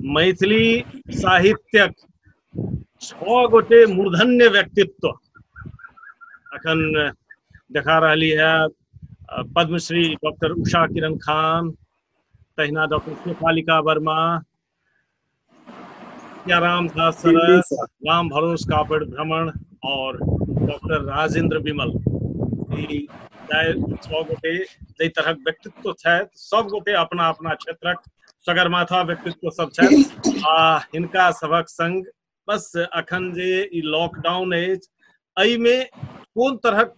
मैथिली साहित्यक छओ गोटे मूर्धन्य व्यक्तित्व अखन देखा रही है पद्मश्री डॉक्टर उषा किरण खान तहिना डॉक्टर शेफालिका वर्मा राम दास सरस राम भरोस कापड़ भ्रमण और डॉक्टर राजेंद्र विमल छओ गोटे जाहि तरहक व्यक्तित्व छथि सब गोटे अपना अपना क्षेत्रक सगरमाथा व्यक्तित्व सब छथि आ हिनका सभक संग बस अखन जे ई लॉकडाउन अछि एहिमे कोन तरहक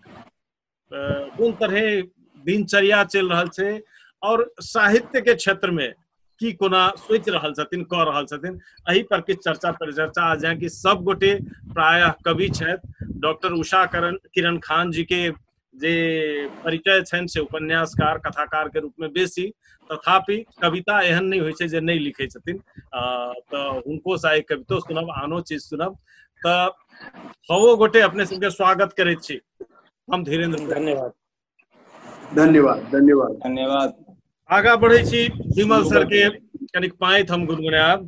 कोन तरहे दिनचर्या चलि रहल छै और साहित्य के क्षेत्र में की कोना सोच रहा छथिन कह रहा छथिन एहि पर किछु चर्चा परिचर्चा आज यहाँ की सब गोटे प्रायः कवि छथि डॉक्टर उषा करण किरण खान जी के जे परिचय छनि से उपन्यासकार कथाकार के रूप में बेसी तथापि कविता एहन नहीं होइ छै जे नहि लिखै छथिन तऽ हुनको सा एक कवितो सुनब आनो चीज सुनब तऽ छओ गोटे अपने सबके स्वागत करै छी हम धीरेन्द्र धन्यवाद धन्यवाद धन्यवाद धन्यवाद आगा बढ़े छी विमल सर के कनिक पाँति हम गुनगुनायब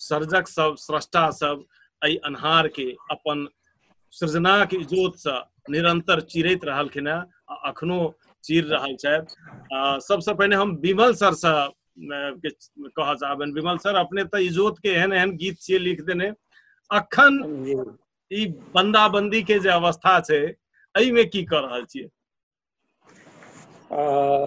सर्जक सब स्रष्टा सब एहि अन्हार के अपन सृजना के इजोत से निरंतर चिरैत रहलखिन हैं आ अखनो चीर रहल छथि आ, सबसे पहिने हम विमल सर से अ, के कहऽ चाहबनि विमल सर अपने तऽ इजोत के एहन एहन गीत छियै लिख देने अखन जी ई बंदाबंदी के जे अवस्था छै एहिमे की कऽ रहल छियै आ,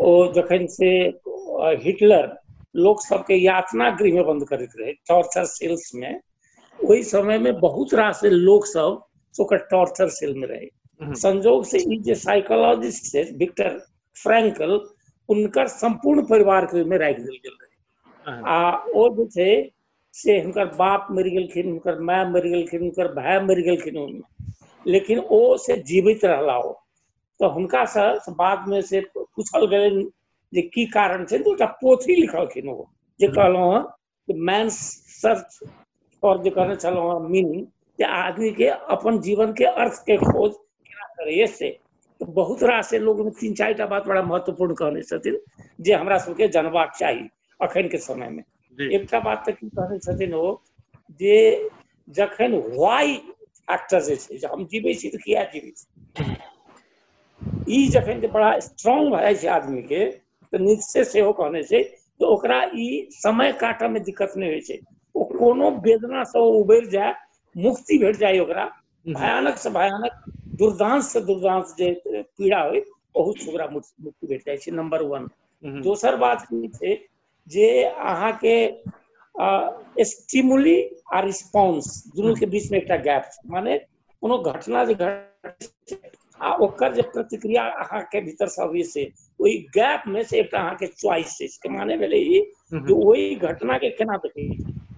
ओ जखन से हिटलर लोक सबके यातना गृह में बंद करैत रहे टॉर्चर सेल्स में ओहि समय में बहुत रास लोक सब ओकर टॉर्चर सेल में रहे हम्म। संजोग से ई जे साइकोलॉजिस्ट छै विक्टर फ्रैंकल उनकर संपूर्ण परिवार के में राख देल गेल रहे आ ओ जे छै से हुनकर बाप मरि गेलखिन हुनकर माय मरि गेलखिन हुनकर भाय मरि गेलखिन ओहिमे लेकिन ओ से जीवित रहला ओ तऽ हुनकासँ बादमे से पूछल गेलनि जे की कारण छै तऽ एकटा पोथी लिखलखिन ओ जे कहलहुँ हँ जे मैन सर्च फॉर जे कहने छलहुँ हँ मीनिंग जे आदमीके अपन जीवनके अर्थके खोज केना करैए से तऽ बहुत रास लोक तीन चारि टा बात बड़ा महत्वपूर्ण कहने छथिन जे हमरा सबके जानबाक चाही अखन के समय में जी एकटा बात तऽ की कहने छथिन ओ जे जखन वाई फैक्टर जे छै जे हम जीबै छी तऽ किया जीबै छी ई जखन जे बड़ा स्ट्रांग भए जाइ छै आदमी के तऽ निश्चय सेहो कहने छै जे ओकरा ई समय काटऽ में दिक्कत नहि होइ छै ओ कोनो वेदना से ओ उबरि जाय मुक्ति भेट जाय ओकरा भयानक से भयानक दुर्दांत से दुर्दांत जे पीड़ा होय बहुत से ओकरा मुक्ति मुक्ति भेट जाइ छै नंबर वन दोसर बात की छै जे अहाँके स्टिमुली आ रिस्पॉन्स दुनूके बीचमे एकटा गैप छै माने कोनो घटना जे घट छै आ ओकर जे प्रतिक्रिया अहाँके भीतरसँ अबै छै ओहि गैपमे से एकटा अहाँके च्वाइस छै के माने भेलै ई जे ओहि घटनाके केना देखै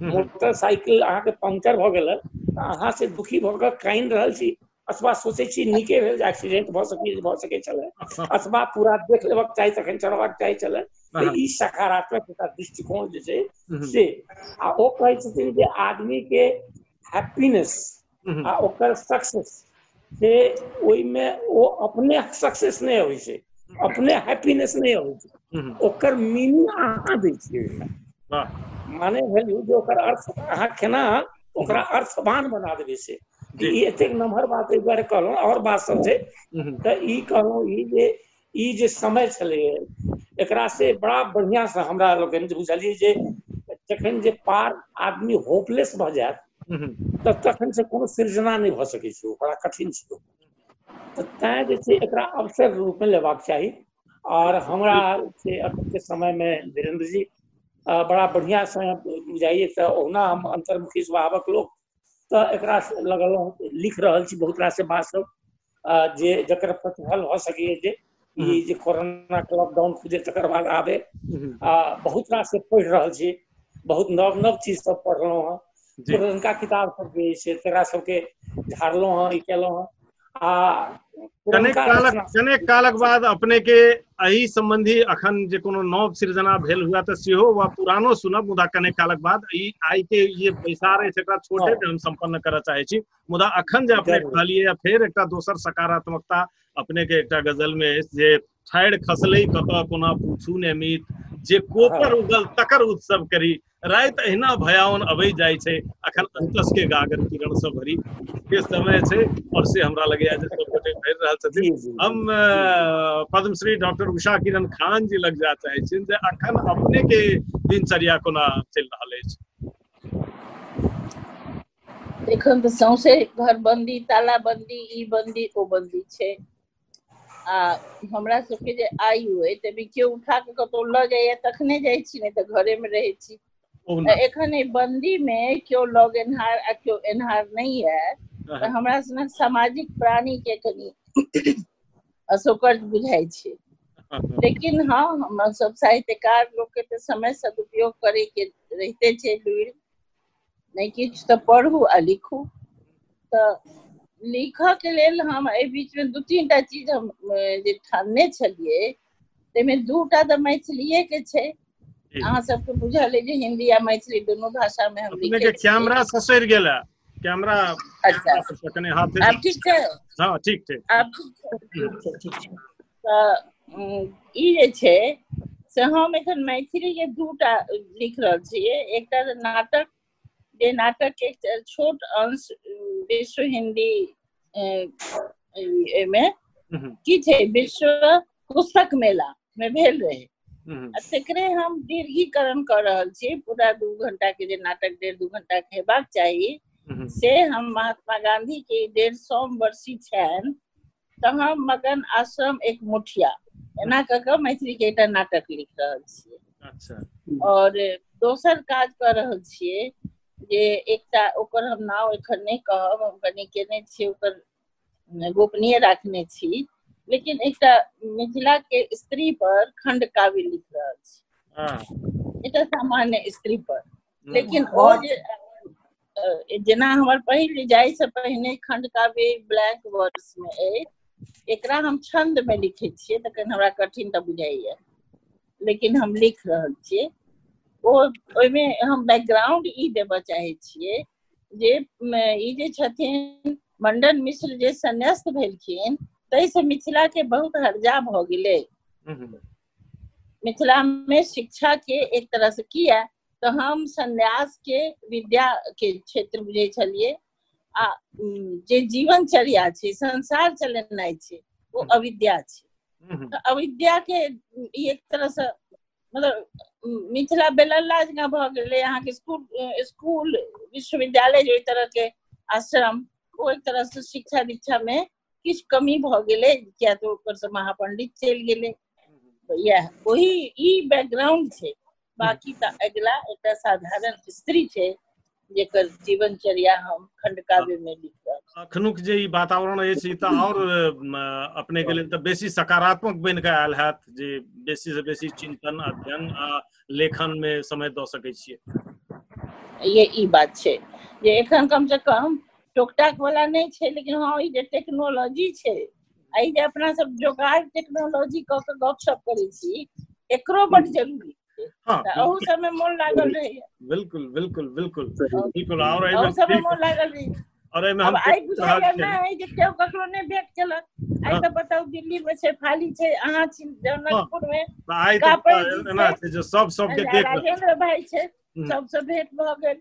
मोटरसाइकिल अहाँके पंक्चर भऽ गेल तऽ अहाँ से दुखी भऽ कऽ कानि रहल छी अथवा सोचै छी नीके भेल जे एक्सीडेंट भऽ सकै भऽ सकै छलै अथवा पूरा देख लेबाक चाही तखन चढ़बाक चाही छलै तऽ ई सकारात्मक एकटा दृष्टिकोण जे छै से आ ओ कहै छथिन जे आदमीके हैप्पीनेस आ ओकर सक्सेस से ओहिमे ओ अपने सक्सेस नहि होइ छै अपने हैप्पीनेस नहि होइ छै ओकर मीनिंग अहाँ दै छियै ओहिमे माने भेल जे ओकर अर्थ अहाँ केना ओकरा अर्थवान बना देबै से जी ई एतेक नमहर बात एहि दुआरे कहलहुँ आओर बात सब छै हम्म, तऽ ई कहलहुँ ई जे ई जे समय छलै एकरा से बड़ा बढ़िआं से हमरा लोकनि जे बुझलियै जे जखन जे पार आदमी होपलेस भऽ जायत हम्म, तऽ तखन से कोनो सृजना नहि भऽ सकै छै ओ बड़ा कठिन छै ओ। तऽ तैं जे छै एकरा अवसर रूपमे लेबाक चाही आओर हमरा से अखनके समयमे धीरेन्द्र जी अ, बड़ा बढ़िआँ से बुझाइए तऽ ओहुना हम अन्तर्मुखी स्वभावक लोक तऽ एकरा लगलहुँ लिख रहल छी बहुत रास बात सब आ जे जकर प्रतिफल भऽ सकैए जे हम्म। ई जे कोरोना के लॉकडाउन खुजे तकर बाद आबे हम्म। आ बहुत रास से पढ़ि रहल छी बहुत नव नव चीज सब पढ़लहुँ हेँ जी पुरनका किताब सब जे अइ से तकरा सबके झाड़लहुँ हेँ ई केलहुँ हेँ आ कनेक कालक कनेक कालक बाद अपने के एहि संबंधी अखन जे कोनो नव सृजना भेल हुआ तऽ सेहो वा पुरानो सुनब मुदा कनेक कालक बाद ई आइ के जे बैसार अछि एकरा छोटे जे हम संपन्न करय चाहे छी मुदा अखन जे अपने कहलिए फेर एकटा दोसर सकारात्मकता अपने के एकटा गजल में अछि जे ठाढ़ि खसलै कतऽ कोना पूछू ने मीत जे कोपर उगल तकर उत्सव करी राति अहिना भयावन अबै जाइ छै अखन अंतस के गागर किरण से भरी के समय छै और से हमरा लगैया जे सब गोटे भरि रहल छथिन हम पद्मश्री डॉक्टर उषा किरण खान जी लग जा चाहे छिन जे अखन अपने के दिनचर्या कोना चलि रहल अछि एखन तऽ सौंसे घर बंदी ताला बंदी ई बंदी ओ बंदी छै आ हमरा सबके जे आयु अइ तइमे कियो उठा कऽ कतहु लऽ जाइए तखने जाइ छी नै तऽ घरे मे रहै छी। ओहुना तऽ एखन ऐ बन्दी मे कियो लऽ गेनहार आ कियो एन्हार नै यै तऽ रहत हमरा सनक सामाजिक प्राणी के कनी असोकर्ज बुझाइ छै। लेकिन हँ हमर सब साहित्यकार लोक के तऽ समय सदुपयोग करै के रहिते छै लूइर नहि किछु तऽ पढ़ू आ लिखू तऽ लिखऽके लेल हम एहि बीचमे दू तीन टा चीज हम जे ठानने छलियै ताहिमे दू टा तऽ मैथिलीएके छै अहाँ सबके बुझल अइ जे हिन्दी आ मैथिली दुनू भाषामे हम लिखै छियै कैमरा ससरि गेल है कैमरा अच्छा कने हाथ आब ठीक छै हँ ठीक ठीक आब ठीक छै तऽ ई जे छै से हम एखन मैथिली के दूटा लिख रहल छियै एकटा नाटक जे नाटक के एकटा छोट अंश विश्व हिन्दी एहिमे की छै विश्व पुस्तक मेला मे भेल रहै आ तेकरे हम दीर्घीकरण कऽ रहल छी पूरा दू घंटा के जे नाटक डेढ़ दू घंटा के हेबाक चाही से हम महात्मा गांधी के डेढ़ सौ वर्षी छनि तहाँ मगन आश्रम एक मुठिया एना कऽ कऽ मैथिली के एकटा नाटक लिख रहल छियै अच्छा और दोसर काज कर रहल छियै जे एकटा ओकर हम नाम एखन नहि कहब हम कनि केने छियै ओकर गोपनीय राखने छी लेकिन एकटा मिथिला के स्त्री पर खंड काव्य लिख रहल छी हाँ एकटा सामान्य स्त्री पर लेकिन ओ बहुत- जे अ, जेना हमर पहिल जाइ से पहिने खंड काव्य ब्लैक वर्ड्स में अछि एकरा हम छंद में लिखे छियै तखन हमरा कठिन तऽ बुझाइए लेकिन हम लिख रहल छियै ओ ओहिमे हम बैकग्राउंड ई देबऽ चाहै छियै जे म, ई जे छथिन मंडन मिश्र जे संन्यास्त भेलखिन ताहिसँ मिथिलाके बहुत हर्जा भऽ गेलै हम्म, हम्म। मिथिला में शिक्षा के एक तरह से किया तो हम संन्यास के विद्या के क्षेत्र बुझे छलिए आ उम, जे जीवन चर्या छै संसार चलेनाइ छै वो हम्म। अविद्या छै हम्म, हम्म, तऽ अविद्या के ई एक तरह से मतलब मिथिला बेलल्ला जकाँ भऽ गेलै अहाँके स्कूल स्कूल विश्वविद्यालय जे ओहि तरह के आश्रम ओ एक तरह से शिक्षा दीक्षा में किछ कमी भ गेलै किया तो ओकर से महापंडित चलि गेलै तो यह वही ई बैकग्राउंड छै बाकी त अगला एकटा साधारण स्त्री छै जेकर जीवनचर्या हम खंड काव्य में लिख रहल अखनुक जे ई वातावरण अछि ई तऽ आओर अपने के लेल तऽ बेसी सकारात्मक बनि कऽ आयल हैत जे बेसी से बेसी चिंतन अध्ययन आ लेखन में समय दऽ सकै छियै ये ई बात छै जे एखन कम से कम टोकटाक वाला नहि छै लेकिन हँ ई जे टेक्नोलॉजी छै एहि जे अपना सब जोगाड़ टेक्नोलॉजी कऽ के गपशप करै छी एकरो बड जरूरी छै हँ तऽ अहू सबमे मोन लागल रहैए बिल्कुल बिल्कुल बिल्कुल बिल्कुल और अहू सबमे एहिमे मोन लागल रहैए और एहिमे हम आब आइ बुझाइए रहल छियै। नहि जे केओ ककरो नहि भेट केलक आइ हँ। तऽ बताउ दिल्ली मे छै फाली छै अहाँ छी जनकपुर मे तऽ आइ कापड़ तऽ जी एना छै। छै जे सब सबके आ देख रहल राजेंद्र भाई छै हम्म। सबसँ भेंट भऽ गेल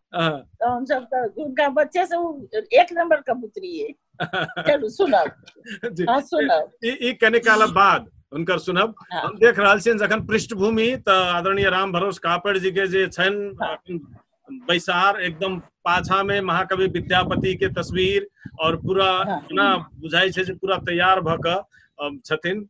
हाँ। तो हम सब तो उनका बच्चे से वो एक नंबर का पुत्री है चलो सुनाओ जी। हाँ सुनाओ ई ई कने काल बाद हुनकर सुनब हाँ। हम देख रहल छियनि जखन पृष्ठभूमि तऽ आदरणीय राम भरोस कापड़ जी के जे छनि हाँ। अपन बैसार एकदम पाछा में महाकवि विद्यापति के तस्वीर और पूरा हाँ। ना बुझाई छै जे पूरा तैयार भऽ कऽ छथिन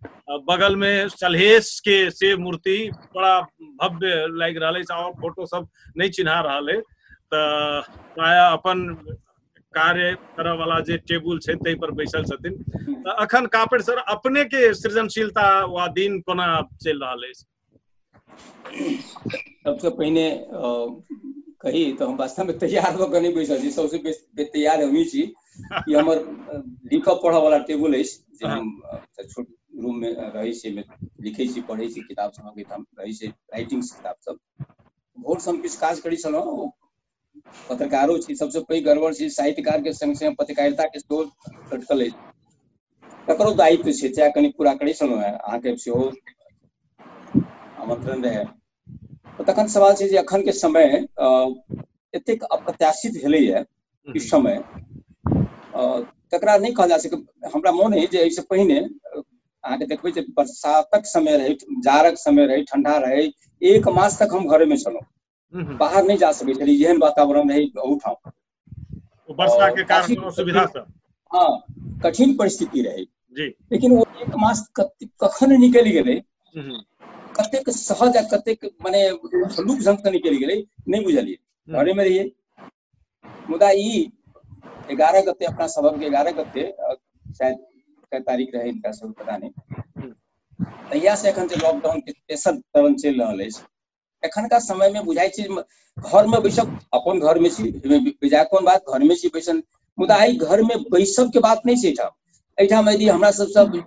बगल में सलहेश के से मूर्ति बड़ा भव्य लाग रहा है और फोटो सब नहीं चिन्हा रहा है तो प्रायः अपन कार्य करऽ वाला जे टेबुल छै ताहि पर बैसल छथिन तऽ अखन कापेड़ सर अपने के सृजनशीलता वा दिन कोना चलि रहल अछि सबसे पहिने कही तऽ हम वास्तवमे तैयार भऽ कऽ नहि बैसल छी सबसे बेसी तैयार हमही छी ई हमर लिखऽ पढ़ऽ वाला टेबुल अछि जे हम छोट रूममे रहै छी लिखै छी पढ़ै छी किताब सब अबैत हम रहै छी राइटिंग किताब सब भोर हम किछु काज करै छलहुँ पत्रकारो छी सबसे पैघ गड़बड़ छी साहित्यकार के संग संग पत्रकारिता के सेहो खटकल अछि ककरो दायित्व छै चाहे कनि पूरा करै छलहुँ हेँ अहाँके सेहो आमंत्रण रहै तखन सवाल छै जे अखन के समय एतेक अप्रत्याशित भेलैए ई समय तकरा नहि कहल जा सकै हमरा मोन अछि जे एहिसँ पहिने अहाँके देखबै जे बरसातक समय रहै जाड़क समय रहै ठंडा रहै एक मास तक हम घरेमे छलहुँ हम्म। बाहर नहीं जा सके छलियै एहन वातावरण रहै ओहूठाम तो वर्षा और के कारण काफी- कोनो सुविधा सब हाँ कठिन परिस्थिति रहै जी लेकिन वो एक मास कत- कखन निकलि गेलै हम्म, कतेक सहज आ कतेक माने हलुक ढंग से निकलि गेलै नहि बुझलियै हम्म, घरे में रहिए मुदा ई एगारह गते अपना सबक एगारह गते अ, शायद कै तारीख रहे इनका सब पता नहीं तहिया से एखन जे लॉकडाउन के तेसर चरण चलि रहल अछि एखनका समय में बुझाई छी घर में बैसब अपन घर में छी बेजा कोन बात घर में छी बैसल मुदा एहि घर में बैसब के बात नहीं छै एहिठाम यदि हमरा सब सब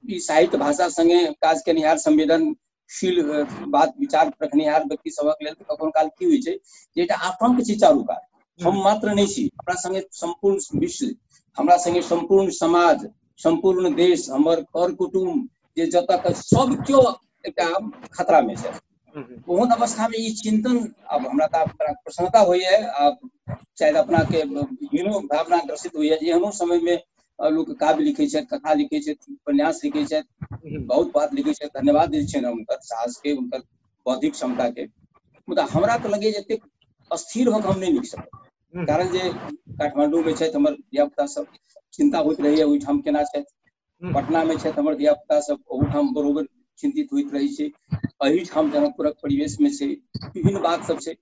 ई साहित्य भाषा संगे काज केनिहार संवेदनशील बात विचार रखनिहार व्यक्ति सबक लेल कखनो काल की होइ छै जे एकटा आतंक छै चारूकात हम हम्म। मात्र नहीं छी हमरा संगे संपूर्ण विश्व हमरा संगे संपूर्ण समाज संपूर्ण देश हमर कर कुटुम जे जतक सब क्यों एकटा खतरा में छै ओहन अवस्था में ई चिंतन अब हमरा तऽ प्रसन्नता होइए आ शायद अपना के हीनो भावना ग्रसित होइए जे एहनो समय में लोक काव्य लिखे छथि कथा लिखे छथि उपन्यास लिखे छथि बहुत बात लिखे छथि धन्यवाद दै छियनि हम हुनकर साहस के हुनकर बौद्धिक क्षमता के मुदा हमरा तऽ लगैए जे अस्थिर होकर हम नहीं लिख सकब कारण जे काठमांडू में छथि हमर धियापुता सब चिंता होइत रहैए ओहिठाम केना छथि पटनामे छथि हमर धियापुता सब ओहूठाम बरोबर चिन्तित होइत रहै छै एहिठाम जनकपुरक परिवेशमे छै विभिन्न बात सब छै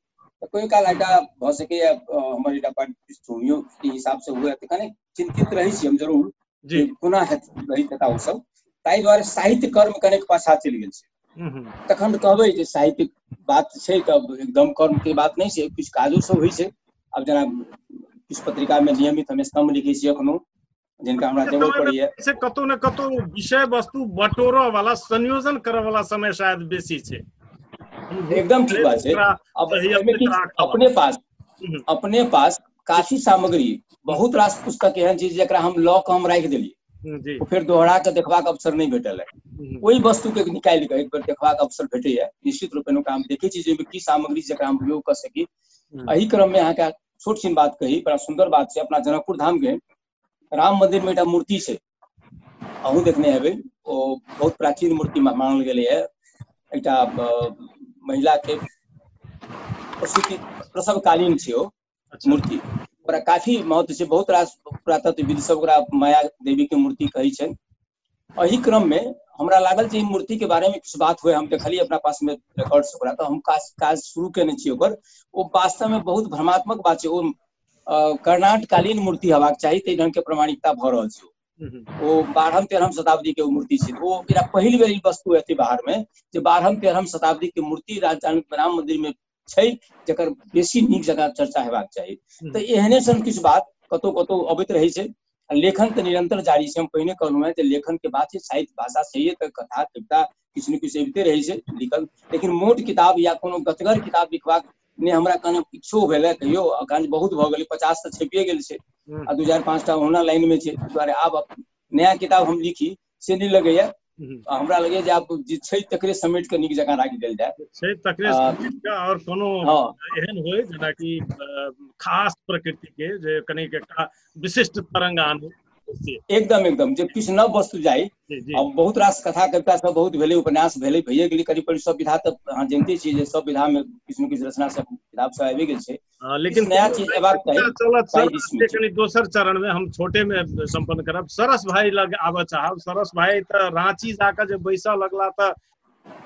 तऽ कोइ काल एकटा भऽ सकैए हमर एकटा पृष्ठभूमियो के हिसाबसँ हुए तऽ कनि चिन्तित रहै छी हम जरूर जे कोना हेतै रहैत हेता ओ सब ताहि दुआरे साहित्य कर्म कनेक पाछा चलि गेल छै हम्म, हम्म। तखन तऽ कहबै जे साहित्यिक बात छै तऽ एकदम कर्मके बात नहि छै किछु काजो सब होइ छै आब जेना किछु पत्रिकामे नियमित हम स्तम्भ लिखै छी एखनो जिनका हमरा जरूरत पड़ैया से कतौ ने कतौ विषय वस्तु बटोरऽ वाला संयोजन करऽ वाला समय शायद बेसी छै एकदम ठीक बात छै अब एहिमे किछु अपने पास हम्म। अपने पास काफी सामग्री बहुत रास पुस्तक एहन छै जकरा हम लऽ कऽ हम राखि देलियै हम्म, फेर दोहरा कऽ देखबाक अवसर नहि भेटल है हम्म। ओहि वस्तु के निकालि कऽ एक बेर देखबाक अवसर भेटैया निश्चित रूपेण ओकरा हम देखै छी जे की सामग्री जकरा हम उपयोग कऽ सकी एहि क्रम मे अहाँके छोट छिन बात कही बड़ा सुंदर बात छै अपना जनकपुर धाम के राम मंदिर में एकटा मूर्ति छै अहूँ देखने हेबै ओ बहुत प्राचीन मूर्ति मानल गेलै है एकटा महिला के प्रसूति प्रसवकालीन छै ओ अच्छा। मूर्ति ओकरा काफी महत्व छै बहुत रास पुरातत्वविद सब ओकरा माया देवी के मूर्ति कहै छै एहि क्रम में हमरा लागल जे मूर्ति के बारे में कुछ बात हुए हम देखलिए अपना पास में रिकॉर्ड्स ओकरा तो हम काज काज शुरू केने छी ओकर ओ वास्तव में बहुत भ्रमात्मक बात छै ओ कर्णाटकालीन मूर्ति हेबाक चाही ताहि ढंग के प्रमाणिकता भऽ रहल छै ओ बारहम तेरहम शताब्दी के मूर्ति छै ओ एकरा पहिल बेर ई वस्तु एतै बाहर में जे बारहम तेरहम शताब्दी के मूर्ति राजधानी राम मंदिर में छै जकर बेसी नीक जकाँ चर्चा हेबाक चाही तऽ एहने सन किछु बात कतहु कतहु अबैत रहै छै लेखन तऽ निरंतर जारी छै हम पहिने कहलहुँ हेँ जे लेखनके बात छै साहित्य भाषा छैहे तऽ कथा कविता किछु ने किछु अबिते रहै छै लिखल लेकिन मोट किताब या कोनो गतगर किताब लिखबाक ने हमरा कहने इच्छो भेलै कहियो अकांत बहुत भऽ गेलै पचास तऽ छपिए गेल छै आ दू चारि पाँचटा ओना लाइनमे छै दुआरे आब नया किताब हम लिखी से नहि लगैया आ हमरा लगैया जे आब जे छै तकरे समेट कऽ नीक जकाँ राखि देल जाय छै तकरे आ, समेट कऽ आओर कोनो हँ एहन होय जेनाकि अ, खास प्रकृति के जे कनिक एकटा विशिष्ट तरंग आने से, एकदम एकदम जे किछु नव वस्तु जाय जी जी आ बहुत रास कथा कविता सब बहुत भेलै उपन्यास भेलै भैये गेलै करीब करीब सब विधा तऽ अहाँ जनिते छियै जे सब विधा मे किछु ने किछु रचना सब किताब सब आबि गेल छै हाँ, लेकिन नया चीज एबाक चलत सर कनी दोसर चरण में हम छोटे में संपन्न करब सरस भाई लग आबऽ चाहब सरस भाई त रांची जाकर जे बैसा लगला त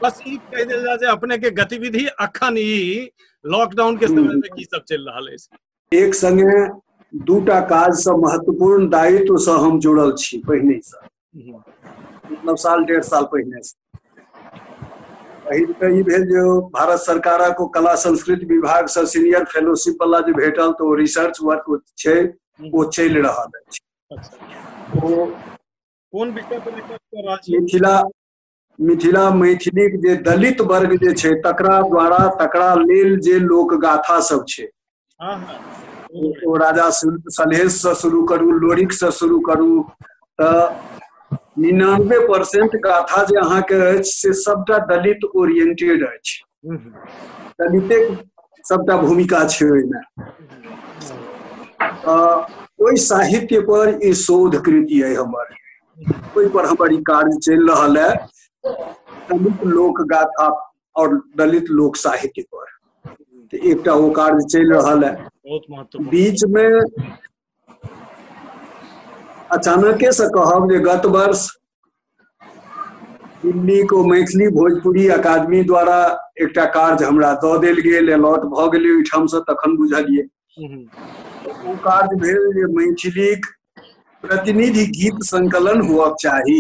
बस ई कह देल जा जे अपने के गतिविधि अखन ई लॉकडाउन के समय में हम्म। की सब चल रहा है एक संगे दूटा काज से महत्वपूर्ण दायित्व से हम जुड़ल छी पहिने से मतलब साल डेढ़ साल पहिने पहिल तऽ ई भेल जे ओ भारत सरकारक ओ कला संस्कृति विभागसँ सीनियर फेलोशिप वाला जे भेटल तऽ ओ रिसर्च वर्क ओ छै ओ चलि रहल अछि अच्छा ओ कोन विषय पर रिसर्च कर रहल छी मिथिला मिथिला मैथिलीक जे दलित वर्ग जे छै तकरा द्वारा तकरा लेल जे लोक गाथा सब छै हाँ हाँ ओ राजा सुल- सलहेशसँ शुरू करू लोरिकसँ शुरू करू तऽ निनानबे परसेंट गाथा जे अहाँके अछि से सभटा दलित ओरिएंटेड अछि ललितेक सबटा भूमिका छै ओहिमे ओहि साहित्य पर ई शोध कृति है हमर ओहि पर हमर ई कार्य चल रहा है दलित लोक गाथा और दलित लोक साहित्य पर एक कार्य चल रहा है बीच में अचानके से कहब जे गत वर्ष दिल्ली को मैथिली भोजपुरी अकादमी द्वारा एकटा कार्य हमरा दऽ देल गेल अलॉट भऽ गेलै ओहिठामसँ तखन बुझलियै ओ कार्य भेल जे मैथिलीक प्रतिनिधि गीत संकलन हुअक चाही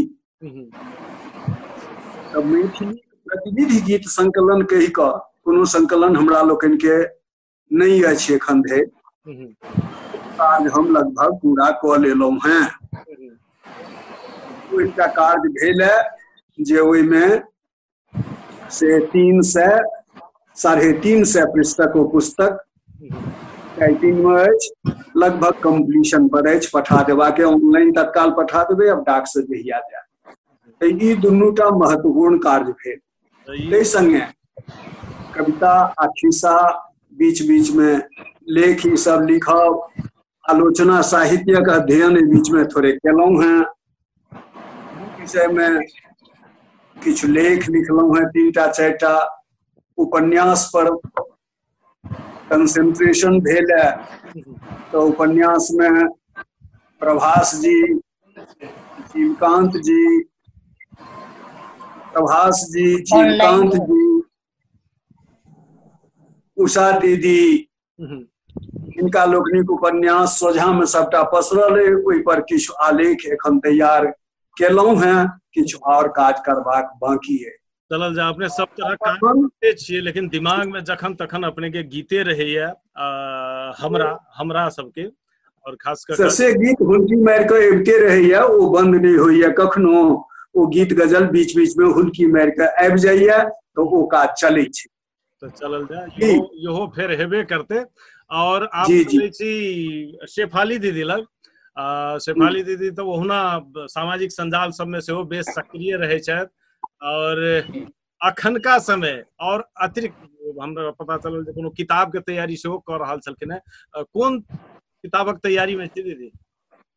तऽ मैथिली प्रतिनिधि गीत संकलन कहि कऽ कोनो संकलन हमरा लोकनिके नहि अछि एखन धरि हम्म, काज हम लगभग पूरा कऽ लेलहुँ हेँ हम्म, ओ एकटा कार्य भेल है जे ओहिमे से तीन सए साढ़े तीन सए पृष्ठक ओ पुस्तक हम्म, टाइपिंग में अछि लगभग कंप्लीशन पर अछि पठा देबाके ऑनलाइन तत्काल पठा देबै अब डाक से जहिया जाय तऽ ई दुनूटा महत्वपूर्ण कार्य भेल ताहि संगे कविता आ खिस्सा बीच बीच में लेख ई सब लिखब आलोचना साहित्यक अध्ययन एहि बीच में थोड़े केलहुँ हैं विषय में किछु लेख लिखलहुँ हैं तीन टा चारि टा उपन्यास पर कंसेंट्रेशन भेल है तो उपन्यास में प्रभास जी चीमकांत जी प्रभास जी चीमकांत जी उषा दीदी इनका लोकनिक उपन्यास सोझा में सबटा पसरल है ओहि पर किछु आलेख एखन तैयार केलहुं हैं किछु और काज करबाक बाकी है चलल जाय अपने सब तरह काम करते छियै लेकिन दिमाग में जखन तखन अपने के गीते रहैया आ, हमरा हमरा सबके और खास कर ससे गीत हुलकी मारि कऽ अबिते रहैया ओ बंद नहि होइया कखनो ओ गीत गजल बीच बीच में हुलकी मारि कऽ आबि जाइया तऽ ओ काज चलै छै तऽ चलल जाय जी। इहो इहो फेर हेबे करते और आप जी, जी। सुनै छी शेफाली दीदी लग आ शेफाली दीदी तऽ ओहुना सामाजिक संजाल सबमे सेहो बेस सक्रिय रहै छथि और अखनका समय और अतिरिक्त हमरा पता चलल जे कोनो किताब के तैयारी सेहो कऽ रहल छलखिन हेँ अ, कोन किताबक तैयारी मे छी दीदी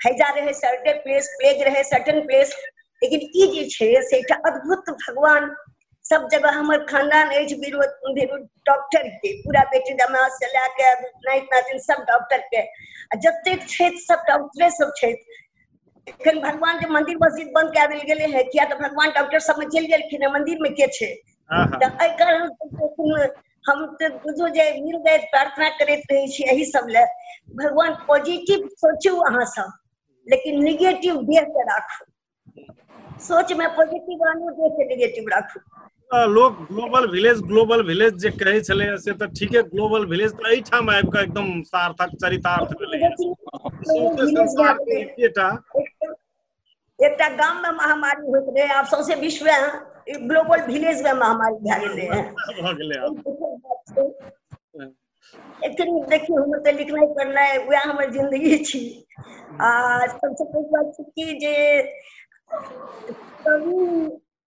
हैजा रहे सर्टेन प्लेस प्लेग रहे सर्टेन प्लेस लेकिन ई जे छै से एकटा अद्भुत भगवान सब जगह हमर खानदान अछि विरोध डॉक्टर के पूरा बेटी दमाद से लए के नाइत नातिन सब डॉक्टर के आ जतेक छथि सब डॉक्टरे सब छथि एखन भगवान के मंदिर मस्जिद बंद कए देल गेलै है किया तऽ भगवान डॉक्टर सब में चलि गेलखिन है मंदिर में के छै तऽ एहि कारण हम तऽ बुझू जे मिल जाय प्रार्थना करैत रहै छी एहि सब लए भगवान पॉजिटिव सोचू अहाँ सब लेकिन निगेटिव देह के राखू सोच में पॉजिटिव आनू देह के निगेटिव राखू लोक ग्लोबल विलेज ग्लोबल विलेज जे कहै छलै से तऽ ठीके ग्लोबल विलेज तऽ एहिठाम आबि कऽ एकदम सार्थक चरितार्थ भेलै एकटा गाम में महामारी होइत रहे आब सौंसे विश्व में ग्लोबल विलेज में महामारी भए गेलै एखन देखियौ हमर तऽ लिखनाइ पढ़नाइ वएह हमर जिंदगी छी आ सबसँ पैघ बात छै कि जे कवि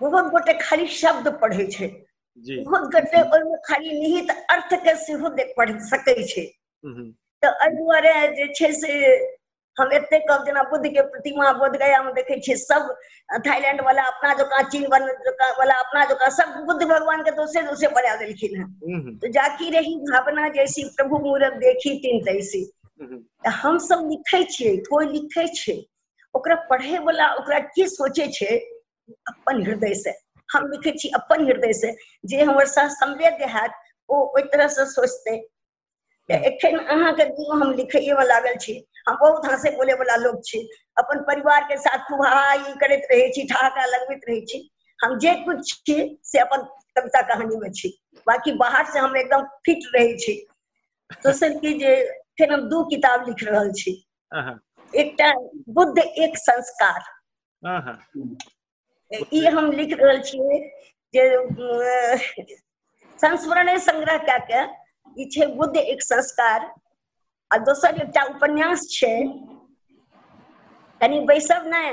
बहुत गोटे खाली शब्द पढ़े छे जी बहुत गोटे ओहिमे खाली निहित अर्थ के सेहो देख पढ़ सके छे हम्म, तऽ एहि दुआरे जे छै से हम एते कहब जेना बुद्ध के प्रतिमा बोध गया में देखे छियै सब थाईलैंड वाला अपना जकाँ चीन वाला जकाँ वाला अपना जकाँ सब बुद्ध भगवान के दोसरे दोसरे बना देलखिन हेँ हम्म, तो जाकी रही भावना जैसी प्रभु मूरत देखी तीन तैसी हम्म, तऽ हमसब लिखै छियै कोइ लिखै छै ओकरा पढ़े वाला ओकरा की सोचे छे अपन हृदय से हम लिखे छी अपन हृदय से जे हमर साथ संवेद्य हैत ओ ओहि तरह से सोचते एखन अहाँके दियो हम लिखैए वाला लागल छी हम बहुत हंसे बोले वाला लोग छी अपन परिवार के साथ खूब हा ई करैत रहे छी ठहाका लगबैत रहे छी हम जे कुछ छी से अपन कविता कहानी में छी बाकी बाहर से हम एकदम फिट रहे छी दोसर की जे फिर हम दू किताब लिख रहल छी एकटा बुद्ध एक संस्कार ई हम लिख रहल छियै जे संस्मरण संग्रह कए के ई छै बुद्ध एक संस्कार आ दोसर एकटा उपन्यास छै कनी बैसब नहि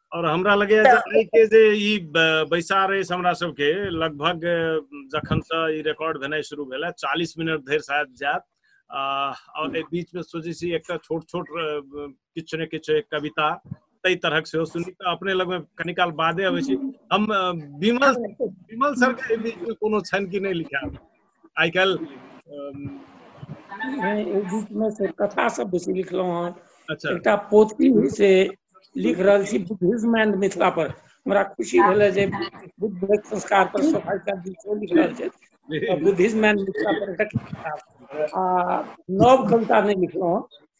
और हमरा लगे जे तऽ- आइ के जे ई ब- बैसार अछि हमरा सबके लगभग जखन से ई रिकॉर्ड भेनाइ शुरू भेल है चालीस मिनट धरि शायद जायत आ, और एहि बीच में सोचे छी एकटा छोट छोट अ, किछु ने किछु एक कविता ताहि तरहक सेहो सुनी तऽ अपने लग में कनी काल बादे अबै छी हम अ, विमल विमल सर के एहि बीच में कोनो छनि कि नहि लिखायल आइ काल्हि एहि बीच में से कथा सब बेसी लिखलो हँ अच्छा एकटा पोथी से लिख रहल छी बुद्धिज्म एंड मिथिला पर हमरा खुशी भेल जे बुद्ध संस्कार पर सोफाई का विषय लिख रहल छै बुद्धिज्म एंड मिथिला पर एकटा किताब आ नव कविता नहि लिखलहुँ हँ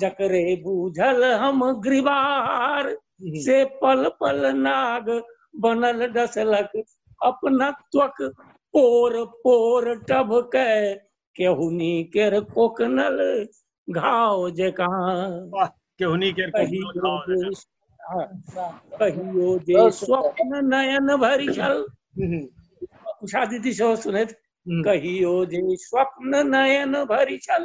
जकरे बूझल हम ग्रीवार से पल पल नाग बनल डसलक अपना त्वक पोर पोर टभके केहुनी केर कोकनल घाव जकाँ वाह केहुनी केर कहियो कोकनल घाव जे- जकाँ। हाँ, कहियो जे बहुत सुंदर। स्वप्न नयन भरि छल हम्म, उषा दीदी सेहो सुनैत हम्म, कहियो जे स्वप्न नयन भरि छल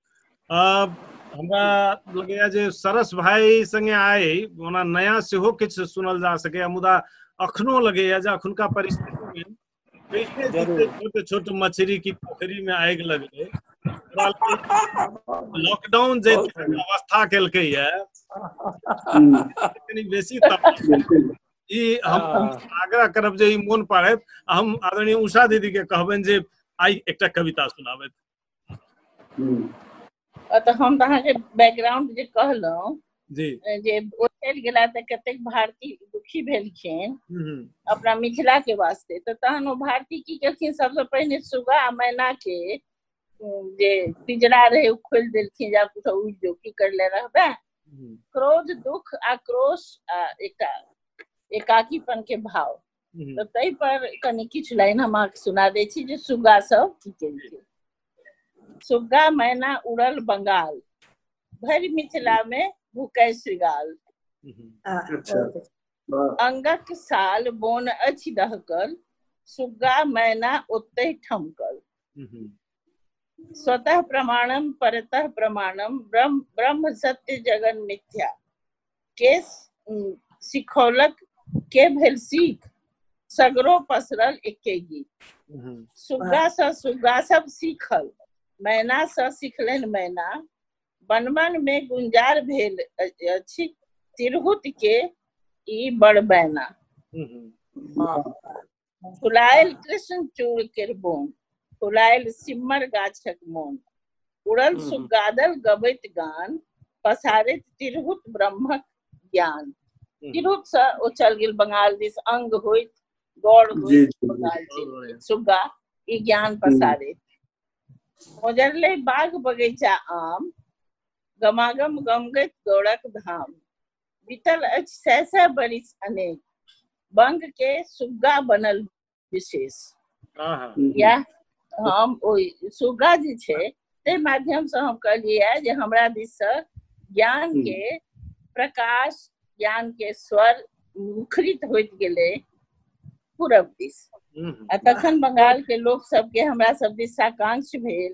हमरा लगैया जे सरस भाई संगे आए ओना नया सेहो किछु सुनल जा सकैया मुदा अखनो लगैया जे अखुनका परिस्थिति में छोट छोट मछली की पोखरी में आगि लगलै लॉकडाउन जे अवस्था केलकै या कनी बेसी ई हम आग्रह करब जे ई मोन पड़त हम आदरणीय उषा दीदी के कहबनि जे आइ एकटा कविता सुनाबथि तऽ हम तऽ अहाँके बैकग्राउंड जे कहलहुँ जी जे ओ चलि गेला तऽ कतेक भारती दुखी भेलखिन अपना मिथिला के वास्ते तऽ तहन ओ भारती की केलखिन सबसँ पहिने सुगा आ मैना के जे पिजरा रहे ओ खोलि देलखिन जे आब उड़ जो की करले रहबे क्रोध दुख आ क्रोश आ एकटा एकाकीपन के भाव हम्म। तऽ ताहि पर कनि किछु लाइन हम अहाँके सुना दै छी जे सुग्गा सब की केलकै सुग्गा मैना उड़ल बंगाल भरि मिथिला मे भूकै श्रृगाल हम्म। अच्छा वाह अंगक साल बोन अछि दहकल सुग्गा मैना ओतहि ठमकल स्वतः प्रमाणम परतः प्रमाणम ब्रह्म ब्रह्म सत्य जगन मिथ्या के सिखौलक के भेल सीख सगरो पसरल एके गीत हम्म। सुग्गा स सुग्गा सब सीखल मैना स सिखलन मैना बनमन में गुंजार भेल अछि तिरहुत के ई बड़ बैना हम्म। फुलायल कृष्ण चूड़ के बोन फुलायल सिमर गाछक मोन उड़ल हम्म। सुगादल गबैत गान पसारैत तिरहुत ब्रह्मक ज्ञान हम्म। तिरहुत से ओ चल गेल बंगाल दिस अंग होइत गौर जी, होइत जी, जी। बंगाल दिस सुग्गा ई ज्ञान पसारैत मोजरले बाग बगैचा आम गमागम गमगैत गौड़क धाम बीतल अछि सै सै बरिस अनेक बंग के सुग्गा बनल विशेष आहा या हम ओहि सुग्गा जे छै ताहि माध्यम से हम कहलियै जे हमरा दिस से ज्ञान के प्रकाश ज्ञान के स्वर मुखरित होइत गेलै पूरब दिस हम्म, आ तखन बंगाल के लोक सबके हमरा सब दिस साकांक्ष भेल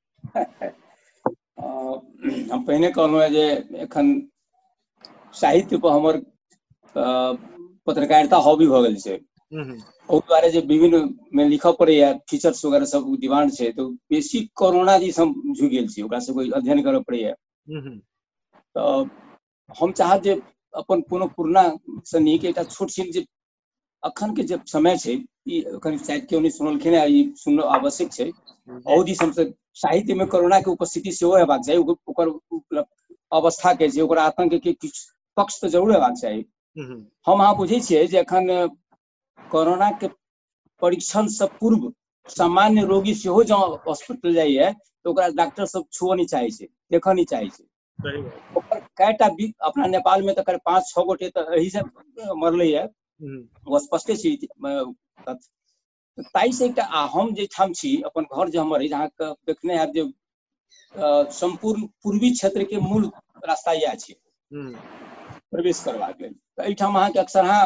हम पहिने कहलहुँ जे एखन साहित्य पर हमर पत्रकारिता हॉबी भऽ गेल छै ओहि दुआरे जे विभिन्न मे लिखऽ पड़ैया फीचर्स वगैरह सब डिमांड छै तो बेसी कोरोना जी हम झुक गेल छी ओकरा से कोई अध्ययन करऽ पड़ैया तऽ हम चाहब जे अपन कोनो पुरना से नीक एकटा छोट छिन जे अखन के जे समय छै ई कनि शायद केओ नहि सुनलखिन ई सुन आवश्यक छै बहुत ही हमसब साहित्य में कोरोना के उपस्थिति सेहो हेबाक चाही ओकर अवस्था के छै ओकर आतंक के किछु पक्ष तऽ जरूर हेबाक चाही हम अहाँ बुझै छियै जे अखन कोरोना के परीक्षण से पूर्व सामान्य रोगी सेहो जब हॉस्पिटल जाइए तो ओकरा डॉक्टर सब छुअ नहीं चाहे छे देख नहीं चाहे छे सही बात ओकर कैटा भी अपना नेपाल में तो कर पांच छह गोटे तो यही से मरले है हम्म, वो स्पष्टे छी अ, तथ्य। तो ताई से एकटा आ हम जे ठाम छी अपन घर जे हमर है जहाँ के देखने है जे अ, संपूर्ण पूर्वी क्षेत्र के मूल रास्ता यह छी हम्म, प्रवेश करबाक लेल तऽ एहिठाम अहाँके अक्सरहाँ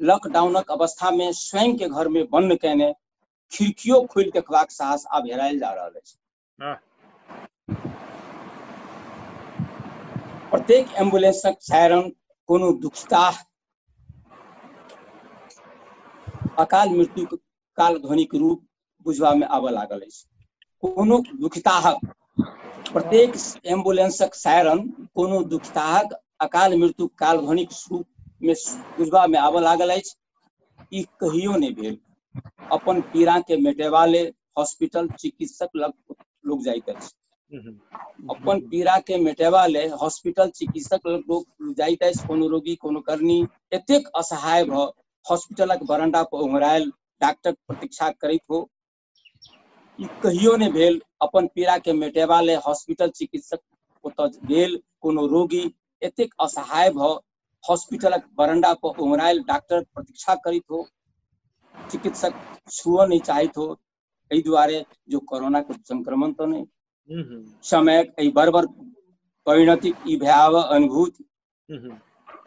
लॉकडाउनक अवस्था में स्वयं के घर में बंद कैने खिड़कियों खोल के खबाक साहस आब हेरायल जा रहल अछि हाँ। प्रत्येक एम्बुलेंसक सायरन कोनो दुखिताह अकाल मृत्यु काल ध्वनिक रूप बुझबामे आबऽ लागल अछि कोनो दुखिताहक प्रत्येक एम्बुलेंसक सायरन कोनो दुखिताहक अकाल मृत्यु काल ध्वनिक रूप में बुझबा में आबऽ लागल अछि ई कहियो नहि भेल अपन पीड़ा के मेटेबा ले हॉस्पिटल चिकित्सक लग लोग जाइत अछि अपन पीड़ा के मेटेबा ले हॉस्पिटल चिकित्सक लग लोग जाइत अछि कोनो रोगी कोनो करनी एतेक असहाय भ हॉस्पिटलक बरंडा पर ओंघरायल डॉक्टर प्रतीक्षा करैत हो ई कहियो नहि भेल अपन पीड़ा के मेटेबा ले हॉस्पिटल चिकित्सक ओतऽ गेल कोनो रोगी एतेक असहाय भ हॉस्पिटलक बरंडा पर ओंघरायल डॉक्टर प्रतीक्षा करैत हो चिकित्सक छुअ नहि चाहैत हो एहि दुआरे जो कोरोना के संक्रमण तऽ नहि हम्म, हम्म, समयक एहि बर्बर परिणतिक ई भयावह अनुभूति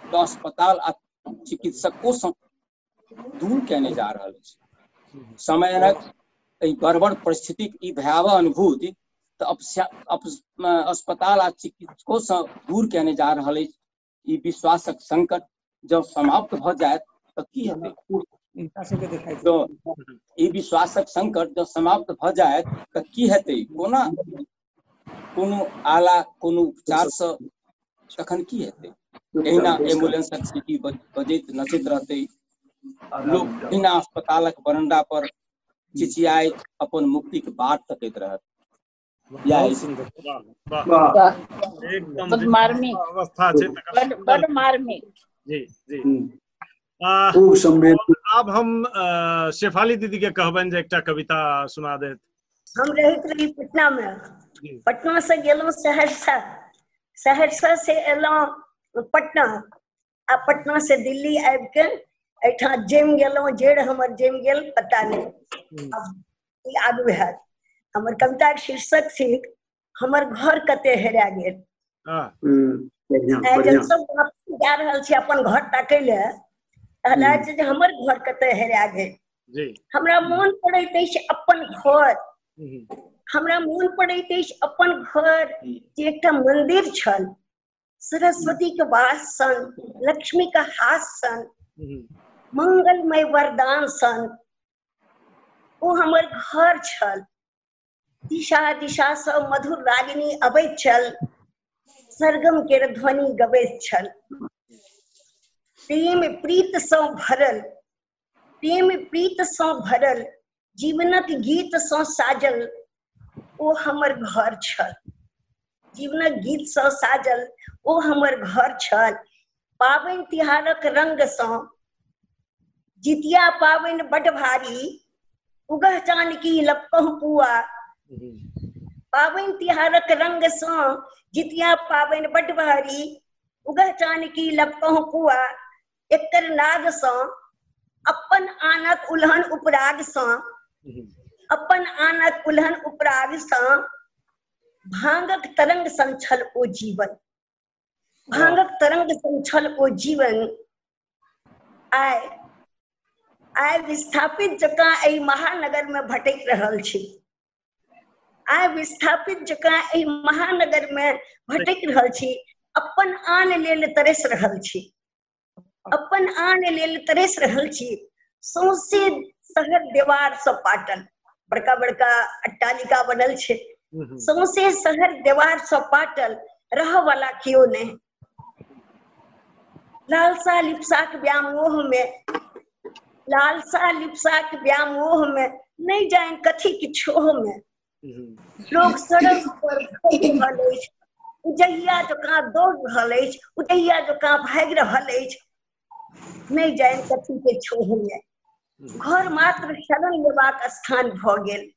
तऽ अस्पताल आ चिकित्सको सँ दूर कयने जा रहल अछि समयक एहि बर्बर परिस्थितिक ई भयावह अनुभूति तऽ अपस्या- अप्स- अ, अस्पताल आ चिकित्सको सँ दूर कयने जा रहल अछि ई विश्वासक संकट जब समाप्त भऽ जायत तऽ की हेतै हिनका सबके देखाइ छै। जँ ई विश्वासक संकट जँ समाप्त भऽ जायत तऽ की हेतै कोना कोनो आला कोनो उपचारसँ तखन की हेतै एहिना एम्बुलेंसक सीटी बजैत नचैत रहतै लोक एहिना अस्पतालक बरंडा पर चिचियाय अपन मुक्तिक बाट तकैत रहत मार्मिक अवस्था छै बड मार्मिक जी जी हम्म। आ, खूब संवेद आब हम अ, शेफाली दीदी के कहबनि जे एकटा कविता सुना देत हम रहैत रही पटना मे जी। पटना से गेलहुँ सहरसा सहरसा से एलहुँ पटना आ पटना से दिल्ली आबि के एहिठाम जमि गेलहुँ जेड़ हमर जमि गेल पता नहि आब की आगू हैत हमर कविताक शीर्षक थिक हमर घर कते हेरा गेल हाँ, हम्म, बढ़िया आइ बढ़िया जब सब वापस जा रहल छी अपन घर ताकै ले तहन हम्म। अछि जे हमर घर कते हेरा गेल जी हमरा मोन पड़ैत अछि अपन घर हम्म, हमरा मोन पड़ैत अछि अपन घर जे एकटा मंदिर छल सरस्वती के वास सन लक्ष्मी के हास सन हम्म, मंगलमय वरदान सन ओ हमर घर छल दिशा दिशासँ मधुर रागिनी अबैत छल सरगम के ध्वनि गबैत छल प्रेम प्रीतसँ भरल प्रेम प्रीतसँ भरल जीवनक गीतसँ साजल ओ हमर घर छल जीवनक गीतसँ साजल ओ हमर घर छल पाबनि तिहारक रंगसँ जितिया पाबनि बड भारी उगह जानकी लपकह पुआ पाबनि तिहारक रंगसँ जितिया पाबनि बड भारी उगह जानकी लपकह पुआ एकर नागसँ अपन आनक उलहन उपरागसँ अपन आनक उलहन उपरागसँ भांगक तरंग संछल ओ जीवन भांगक तरंग सन छल ओ जीवन आय आय विस्थापित जकाँ एहि महानगर में भटक रहल छी आय विस्थापित जकाँ एहि महानगर में भटक रहल छी अपन आन लेल तरस रहल छी अपन आन लेल तरस रहल छी सौंसे शहर देवार सब पाटल बड़का बड़का अट्टालिका बनल छै सौंसे शहर देवार सब पाटल रह वाला केओ नहि लालसा लिप्साक व्यामोह में लालसा लिप्साक व्यामोह में नहीं जाए कथी किछो में लोक सड़क पर रहल अछि उजैया जकाँ दौड़ रहल अछि उजैया जकाँ भागि रहल अछि नहि जाए कथी के छोड़ैया घर मात्र शरण लेबाक स्थान भऽ गेल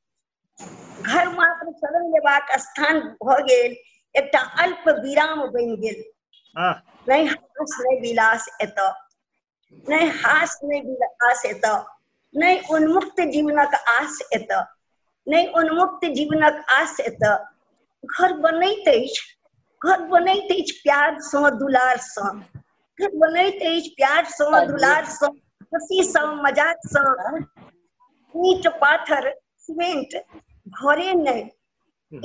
घर मात्र शरण लेबाक स्थान भऽ गेल एकटा अल्प विराम बनि गेल नहि हास नहि विलास एतऽ नहि हास नहि बिल आस एतऽ नहि उन्मुक्त जीवनक आस एतऽ नहि उन्मुक्त जीवनक आस एतऽ घर बनैत अछि घर बनैत अछि प्यारसँ दुलारसँ घर बनैत अछि प्यारसँ दुलारसँ खुशीसँ मजाकसँ ईट पाथर सीमेंट घरे नहि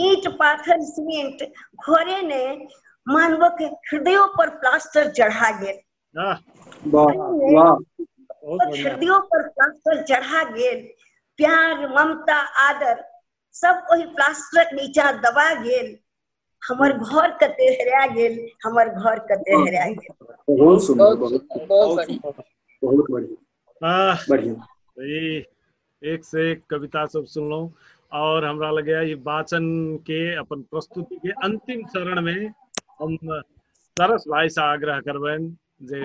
ईट पाथर सीमेंट घरे नहि मानवक हृदयो पर प्लास्टर चढ़ा गेल हृदयो पर प्लास्टर चढ़ा गेल प्यार ममता आदर सब ओहि प्लास्टरक नीचा दबा गेल हमर घर कते हेरा गेल हमर घर कते हेरा गेल बहुत सुंदर बहुत बहुत बढ़िया बढ़िया एक से एक कविता सब सुनलहुँ और हमरा लगे ये वाचन के अपन प्रस्तुति के अंतिम चरण में हम सरस भाई से आग्रह करबनि जे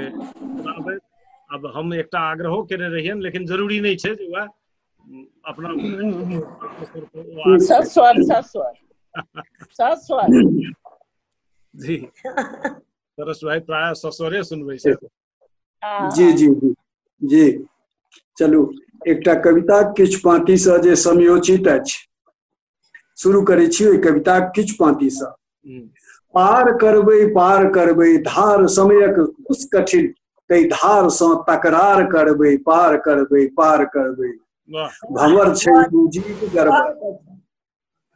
अब हम एक आग्रहो करे रहियन लेकिन जरूरी नहीं है जो वह अपना सस्वर सस्वर सस्वर जी सरस भाई प्राय सस्वरे सुनबे जी जी जी जी चलू एकटा कविता किछु पाँतिसँ जे समयोचित अछि शुरू करै छी ओहि कविताक किछु पाँतिसँ पार करबै पार करबै धार समयक कुछ कठिन ताहि धारसँ तकरार करबै पार करबै पार करबै भंवर छै जीव गर्भ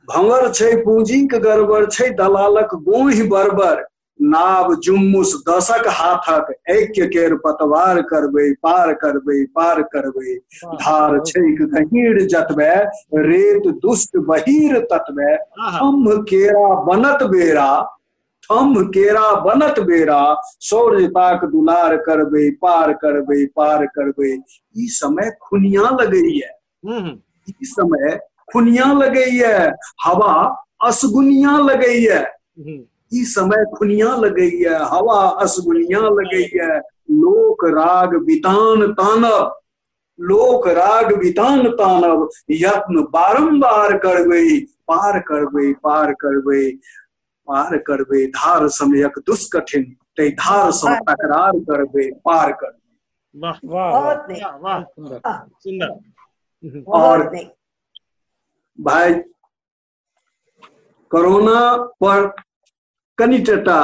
भंगर छै पूंजीक गड़बड़ छै दलालक गोहि बरबर नाव जुम्मुस दशक हाथक ऐक्य केर पतवार करबै पार करबै पार करबै धार छैक गहीर जतबे रेत दुष्ट बहीर ततबे थम्भ केरा बनत बेरा थम्भ केरा बनत बेरा सौर्यताक दुलार करबै पार करबै पार करबै ई समय खुनिया लगैया ई समय खुनिया लगैया हवा असगुनिया लगैया ई समय खुनिया लगैया हवा असगुनिया लगैया लोक राग वितान तानब लोक राग वितान तानब यत्न बारंबार करबै पार करबै पार करबै पार करबे धार समयक दुष्कठिन ते धार सम पार करबे। तकरार करबे पार करबे वाह वाह वाह बहुत नीक। वाह वाह सुंदर वाह। सुंदर हम्म, और- बहुत नीक भाई कोरोना पर कनि टटा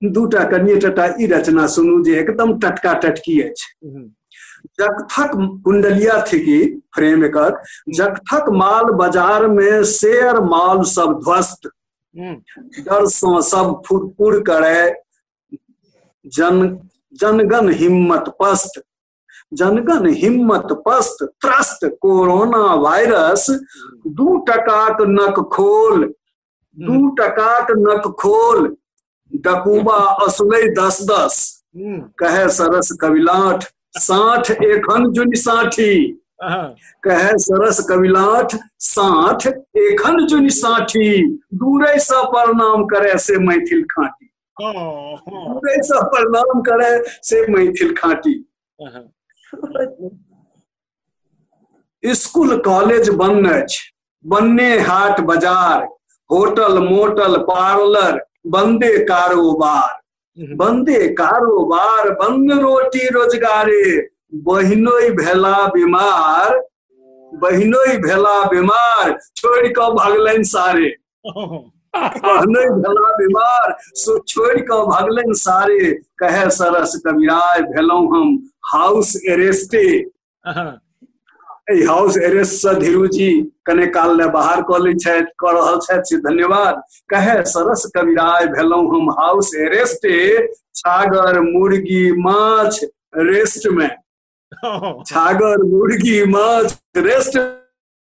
दूटा कनिए टटा ई रचना सुनू जे एकदम टटका टटकी अछि हम्म, जगथक कुंडलिया थी की फ्रेम एकर जगथक माल बाजार में शेयर माल सब ध्वस्त डरसँ सब फुरफुर करे जन जनगण हिम्मत पस्त जनगण हिम्मत पस्त त्रस्त कोरोना वायरस दू टकाक नक खोल दू टकाक नक खोल डकूबा असुलै दस दस हम्म, कहे सरस कविलाठ साठ एखन जुनि साठी हाँ, कहे सरस कविलाठ साठ एखन जुनि साठी दूरे सा प्रणाम करे से मैथिल खाटी हाँ, हाँ, दूरे सा प्रणाम करे से मैथिल खाटी स्कूल कॉलेज बंद अछि बन्ने हाट बाजार होटल मोटल पार्लर बंदे कारोबार हम्म। बंदे कारोबार बंद रोटी रोजगारे बहिनोई भेला बीमार बहिनोई भेला बीमार छोड़ के भगलन सारे नहि भेला बीमार सो छोड़ के भगलन सारे कहे सरस कविराय भेलौ हम हाउस एरेस्टे हाउस एरेस्ट से धीरू जी कने काल ले बाहर कऽ लै छथि कऽ रहल छथि से धन्यवाद कहे सरस कविराय भेलौ हम हाउस एरेस्टे छागर मुर्गी माछ रेस्ट में छागर मुर्गी माछ रेस्ट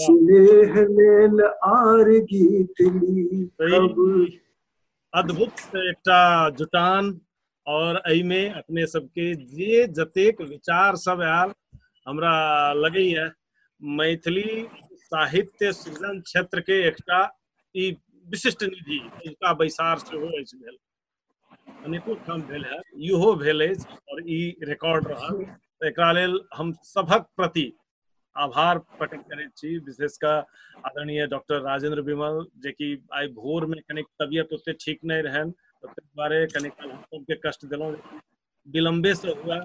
सुनेह लेल आर गीत ली कब सही अद्भुत एकटा जुटान और एहिमे अपने सबके जे जतेक विचार सब आयल हमरा लगैया मैथिली साहित्य सृजन क्षेत्र के एकटा ई विशिष्ट निधि एहिका बैसार सेहो अछि भेल अनेको ठाम भेल है इहो भेल अछि और ई रिकॉर्ड रहल तऽ एकरा लेल हम सभक प्रति आभार प्रकट करैत छी विशेष कऽ आदरणीय डॉक्टर राजेंद्र विमल जे कि आइ भोर में कनिक तबियत ओते ठीक नहि रहनि तऽ ताहि दुआरे कनिक हम सबके कष्ट देलहुँ विलम्बे से हुआ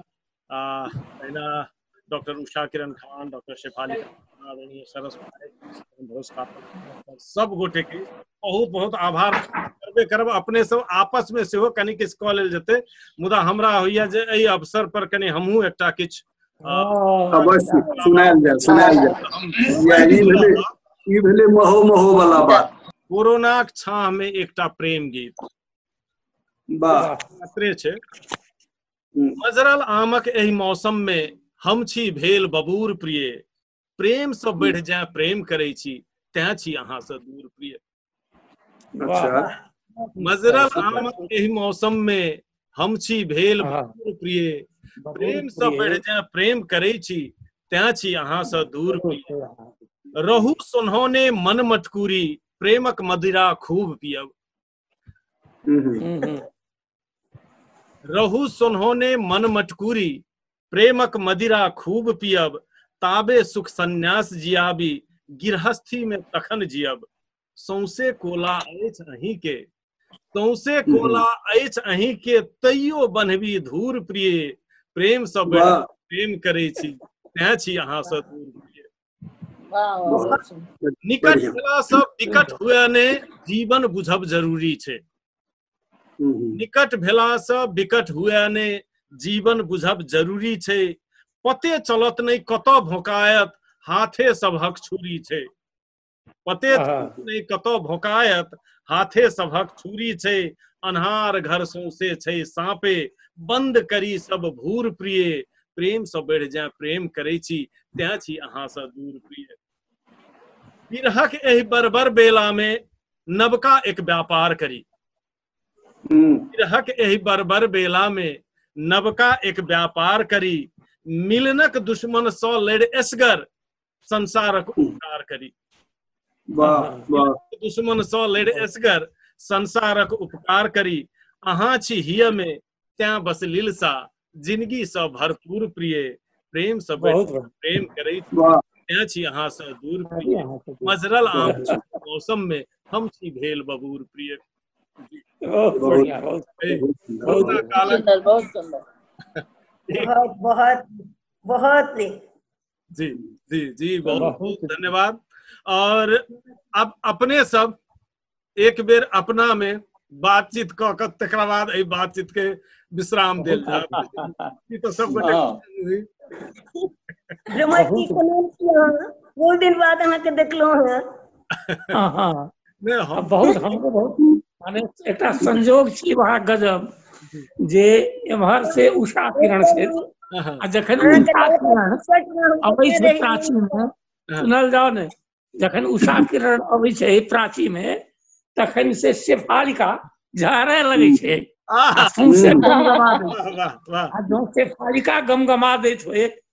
पहला डॉक्टर उषा किरण खान डॉक्टर शेफाली आदरणीय सरस सब गोटे के बहुत बहुत आभार करबे करब अपने सब आपस में सेहो कनी किछु कऽ लेल जेतै मुदा हमरा होइया जे एहि अवसर पर कनी हमहूँ एकटा किछु अवश्य सुनायल जाय सुनायल जाय ई भेलै ई भेलै महो महो वाला बात कोरोनाक छाह में एकटा प्रेम गीत वाह छै मजरल आमक एहि मौसम मे हम छी भेल बबूर प्रिय प्रेम से बढ़ जाए प्रेम करे छी तैं छी अहाँ से दूर प्रिय अच्छा मजरल आमक एहि मौसम मे हम छी भेल बबूर प्रिय प्रेम से बढ़ जाए प्रेम करे छी तैं छी अहाँ से दूर प्रिय रहू सुनौने मन मटकूरी प्रेमक मदिरा खूब पियब हम्म, हम्म। हम्म, हम्म। रहु सोन्होने मन मटकुरी प्रेमक मदिरा खूब पियब ताबे सुख संन्यास जियाबी गिरहस्थी में तखन जियब सौंसे कोला अछि अहीं के सौंसे कोला अछि अहीं के तैयो बन्हबी धूर प्रिय प्रेम सब वाह प्रेम करै छी तैं छी अहाँ से दूर प्रिय निकट भेला सब विकट हुए ने जीवन बुझब जरूरी छै निकट भेला सब विकट हुए ने जीवन बुझब जरूरी छै पते चलत नहीं कत भोकायत हाथे सबहक छुरी छै पते आहा। थूक नहि कतऽ भोकायत हाथे सभक छुरी छै अन्हार घर सौंसे छै साँपे बंद करी सब भूर प्रिय प्रेम सँ बढ़ि जाय प्रेम करै छी तैं छी अहाँ सँ दूर प्रिय विरहक एहि बर्बर बेला मे नवका एक व्यापार करी हम्म, विरहक एहि बर्बर बेला मे नवका एक व्यापार करी मिलनक दुश्मन सँ लड़ एसगर संसारक उपकार करी दुश्मन सँ लड़ एसगर संसारक उपकार करी अहाँ छी हिय मे तैं बस लीलसा जिंदगी सँ भरपूर प्रिय प्रेम सँ प्रेम करै तैं छी अहाँ सँ दूर प्रिय मजरल आम मौसम में हम छी भेल बबूर प्रिय बहुत बढ़िया बहुत बहुत सुंदर बहुत सुंदर बहुत बहुत बहुत जी जी जी बहुत बहुत बहुत धन्यवाद और अब अपने सब एक बेर अपना में बातचीत क क तकरा बाद एहि बातचीत के विश्राम देल जाय ई तो सब गोटे हाँ। हुई। रमण जी के नाम की अहाँ बहुत दिन बाद अहाँके देखलहुँ हँ हाँ हाँ ने हम अब बहुत हमको बहुत माने एकटा संजोग छी वहाँ गजब जे एम्हर से उषा किरण से हाँ, आ जखन उषा किरण अबै छै प्राची में हाँ, सुनल जाओ ने जखन उषा किरण अबै छै प्राची में तखन से शेफालिका झाड़े लगे छै आ आह, सौंसे गमगमा दै छै। वाह वाह वाह आ जौं शेफालिका गमगमा दैत होय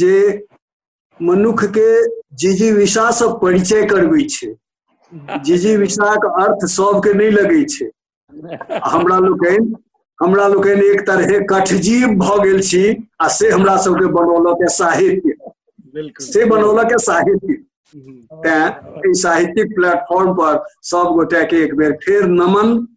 जे मनुख के जिजीविषा से परिचय करबै छै जिजीविषाक अर्थ सबके नहि लगै छै हमरा लोकनि हमरा लोकनि एक तरहे कठजीव भऽ गेल छी आ से हमरा सबके बनौलक साहित्य से बनौलक साहित्य तैं एहि साहित्यिक प्लेटफॉर्म पर सब गोटे के एक बेर फेर नमन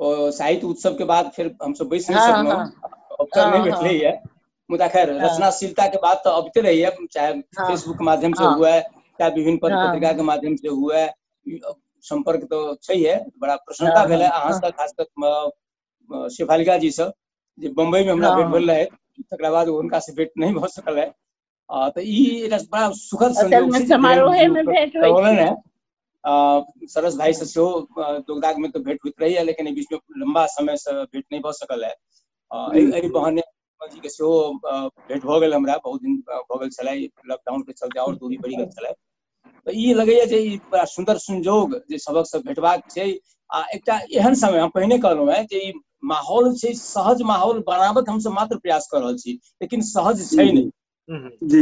अ, साहित्य उत्सव के बाद फिर हम सब बैस नहीं हाँ, सकलहुँ हाँ, अवसर हाँ, नहीं हाँ। भेटले है मुदा खैर हाँ। रचनाशीलता के बात तो अबते रही है चाहे हाँ, फेसबुक के माध्यम से हाँ। हुआ है चाहे विभिन्न पत्र हाँ, पत्रिका हाँ। के माध्यम से हुआ है ई, अ, संपर्क तो छै है बड़ा प्रसन्नता हाँ, भेल है हाँ, अहाँ हाँ। से खास कर शेफालिका जी से जे बम्बई में हमरा हाँ। भेट भेल रहे तकरा बाद हुनका से भेट नहीं भऽ सकल है आ, तऽ ई एकटा बड़ा सुखद असल संयोग में छै जे समारोहे धीरेन्द्र जी में ओकर भेंट होइ करौलनि छै। हैं आ, सरस भाई से सेहो आ, दोगदाग में तो भेंट होइत रहैया लेकिन एहि बीच में लंबा समय से भेंट नहीं भऽ सकल है आ, एहि जी एहि बहाने कुमार जी के सेहो आ, भेंट भऽ गेल हमरा बहुत दिन आ, भऽ गेल छलै लॉकडाउन के चलते और दूरी बढ़ि गेल छलै तऽ ई लगैए जे ई बड़ा सुन्दर संजोग जे सबकसँ भेटबाक छै आ एकटा एहन समय हम पहिने कहलहुँ हेँ जे ई माहौल छै सहज माहौल बनाबक हमसभ मात्र प्रयास कऽ रहल छी लेकिन सहज छै नहि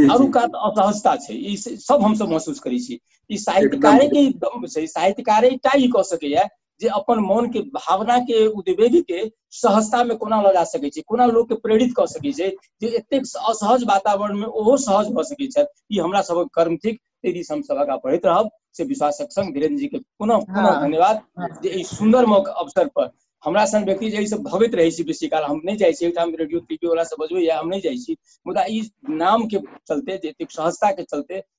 अरू कात असहजता छै ई सब हमसभ महसूस करै छी ई साहित्यकारे के दम छै साहित्यकारे टा ई कऽ सकैए जे अपन मन के भावना के उद्वेग के सहजता में कोना लगा सकै छै कोना लोग के प्रेरित कऽ सकै छै जे एतेक असहज वातावरण में ओहो सहज भऽ सकै छथि ई हमरा सबक कर्म थिक ताहि दिस हम सभक पढ़ैत रहब से विश्वासक संग धीरेन्द्र जी के पुनः पुनः हाँ। धन्यवाद हाँ। जे एहि सुंदर मौका अवसर पर हमरा सन व्यक्ति जे एहि से भगैत रहै छी बेसी काल हम नहि जाइ छी ओहिठाम रेडियो टीवी वाला से बजबै या हम नहि जाइ छी मुदा ई नाम के चलते जे एतेक सहजता के चलते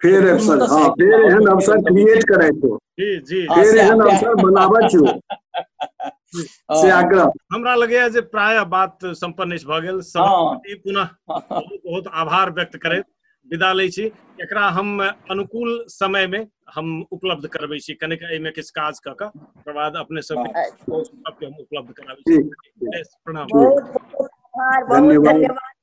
फेर अवसर हाँ फेर एहन अवसर क्रिएट करे तो जी जी फेर एहन अवसर बनाबे छो से आग्रह हमरा लगैया जे प्राय बात संपन्न अछि भऽ गेल समाप्ति पुनः बहुत बहुत आभार व्यक्त करैत विदा लै छी एकरा हम अनुकूल समय में हम उपलब्ध करबै छी कनेक एहिमे किछु काज कऽ कऽ ओकर बाद अपने सब सबके हम उपलब्ध कराबै छी प्रणाम बहुत बहुत आभार बहुत धन्यवाद